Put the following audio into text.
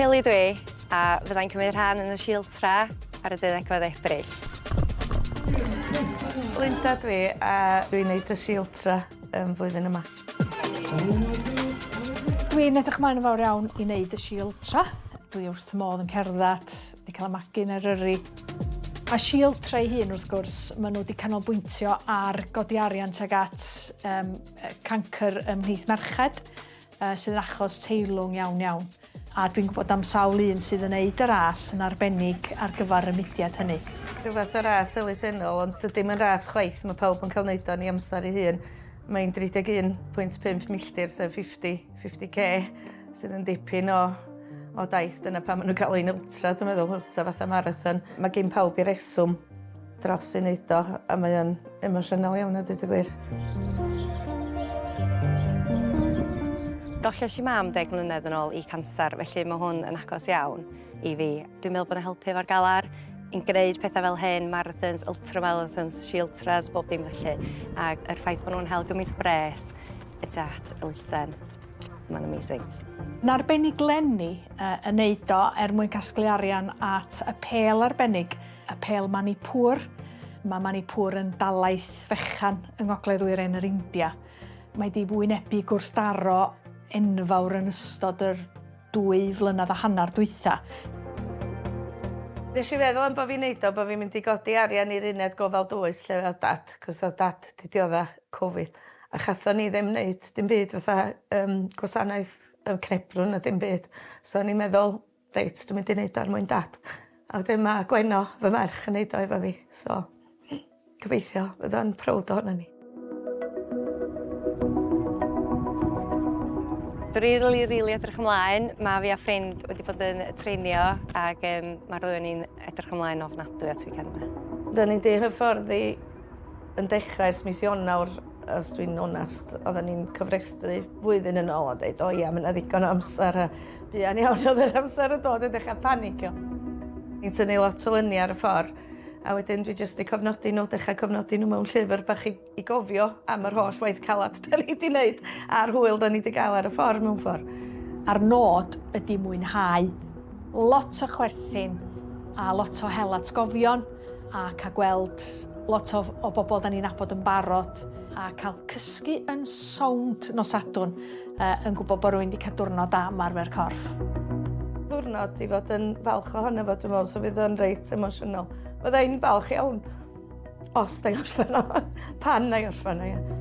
Kelly dw i, a fydda i'n cymryd rhan yn y Shield Tra ar y deuddegfed o Ebrill. Linda dw i, a dw i'n neud y Shield Tra yn flwyddyn yma. Dw i'n edrych ymlaen yn fawr iawn i neud y Shield Tra. Dw i wrth fy modd yn cerddad Ni'n cael y magu'n Eryri. A Shieltra ei hun wrth gwrs, maen nhw wedi canolbwyntio ar godi arian tuag at um, cancr ym mhlith merched, uh, sydd yn achos teilwng iawn iawn. A dwi'n gwybod am sawl un sydd yn neud y ras yn arbennig ar gyfer y mudiad hynny. Rhywbeth o ras elusennol, ond dydy mae'n ras chwaith, mae pawb yn cael neud o'n ei amser ei hun. Mae'n 31.5 milltir, sef 50 50k sydd yn dipyn o o daith, dyna pam maen nhw'n galw hi'n ultra, dwi'n meddwl, ultra fatha marathon. Mae gen pawb i reswm dros ei wneud o, a mae o'n emosiynol iawn a dweud y gwir. Golles i mam deg mlynedd yn ôl i canser, felly mae hwn yn agos iawn i fi. Dwi'n meddwl bod yn helpu efo'r galar, yn gwneud pethau fel hyn, marathons, ultramarathons, she ultras, bob dim felly. Ac yr ffaith bod nhw'n hel gymaint o bres, It's at elusen. Mae'n amazing. Narbennig Lenny uh, yn neud o er mwyn casglu arian at y pel arbennig, y pel Manipur. Mae Manipur yn dalaeth fechan yng ngogledd wyren yr India. Mae di wynebu gwrthdaro enfawr yn ystod yr dwy flynedd a hanner dwytha. Nes i feddwl am bod fi'n neud o, bod fi'n mynd i godi arian i'r uned gofal dwys lle oedd dad, cos oedd dad di diodda Covid a chathon ni ddim neud dim byd fatha yym gwasanaeth yy cnebdwn na dim byd so o'n i'n meddwl reit dwi mynd i neud o er mwyn dad. A wedyn ma' Gwenno fy merch yn neud o efo fi so gobeithio fydd o'n prowd ohonon ni. Dwi rili rili edrych ymlaen, ma' fi a ffrind wedi bod yn treinio ag yym ma'r ddwy o ni'n edrych ymlaen ofnadwy at weekend 'ma. 'Dan ni 'di hyfforddi Yn dechrau ers mis Ionawr, os dwi'n onest, oedden ni'n cofrestru flwyddyn yn ôl a dweud, o ia, mae yna ddigon o amser a buan iawn oedd yr amser yn dod i ddechrau panicio. Ni'n tynnu lot o lyniau ar y ffordd a wedyn dwi jyst wedi cofnodi nhw, dechrau cofnodi nhw mewn llyfr bach i, i gofio am yr holl waith calad da ni wedi wneud a'r hwyl da ni wedi gael ar y ffordd mewn ffordd. A'r nod ydy mwynhau lot o chwerthin a lot o hel atgofion. a ca'l gweld lot o o bobl 'dan ni'n nabod yn barod a ca'l cysgu yn sownd nos Sadwrn yy yn gwybod bod rwy'n 'di cael diwrnod da ymarfer corff. Ddiwrnod i fod yn falch ohono fo dwi'n meddwl so fydd o'n reit emosiynol. Fydda i'n falch iawn os 'na i orffen o pan 'na i orffen o ia.